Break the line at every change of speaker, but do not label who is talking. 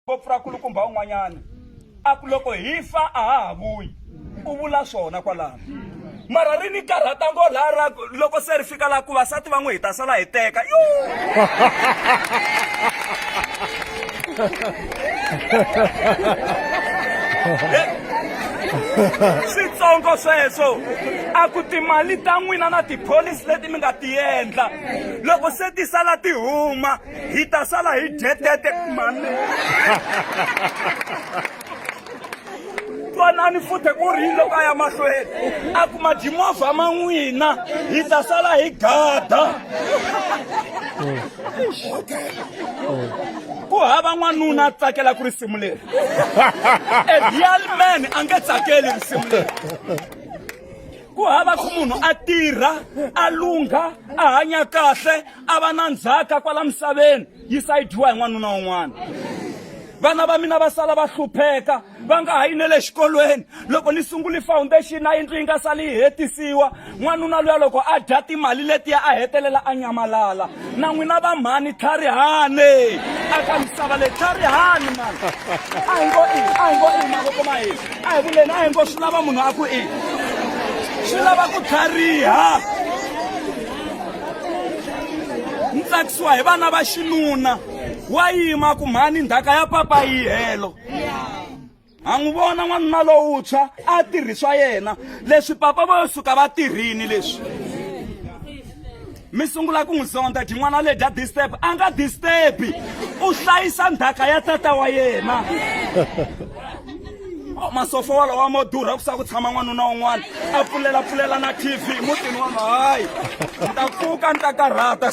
ngopfu ra kulukumba un'wanyana a ku loko hi fa a ha ha vuyi u vula swona kwalano mara ri ni karhata ngo laha ra loko se ri fika laha ku vasati va n'wi hi ta sala hi teka yo switsongo sweswo a ku timali ta n'wina na tipholisi leti mi nga ti endla loko se ti sala ti huma hi ta sala hi dyetete mani twanani futhi ku ri yini loko a ya mahlweni a ku majimovha ma n'wina hi ta sala hi gada ku hava n'wanuna a tsakela ku risimu leri a real man a nge tsakeli risimu leri ku hava ku munhu a tirha a lungha a hanya kahle a va na ndzhaka kwala misaveni yi sayidiwa hi n'wanuna un'wana vana va mina va sala va hlupheka va nga ha yi ne le xikolweni loko ni sunguli foundation a yindlu yi nga sali yi hetisiwa n'wanuna luya loko a dya timali letiya a hetelela a nyamalala na n'wina va mhani tlharihani aka misava leyi tlharihani mani a hi ngo i a hi ngo i mavoko ma hina a hi vuleni a hi ngo swi lava munhu a ku i swi lava ku tlhariha ni tsakisiwa hi vana va xinuna wa yima ku mhani ndhaka ya papa yi helo ha n'wi vona n'wanuna lowuntshwa a tirhi swa yena leswi papa vo suka va tirhini leswi mi sungula ku n'wi zonda dyi n'wana le dya disturb a nga disturbi u hlayisa ndhaka ya tata wa yena masofo walowa mo durha ku sa ku tshama n'wanuna un'wana a pfulela pfulela na tv mutini wa hayi ni ta pfuka ni ta karhata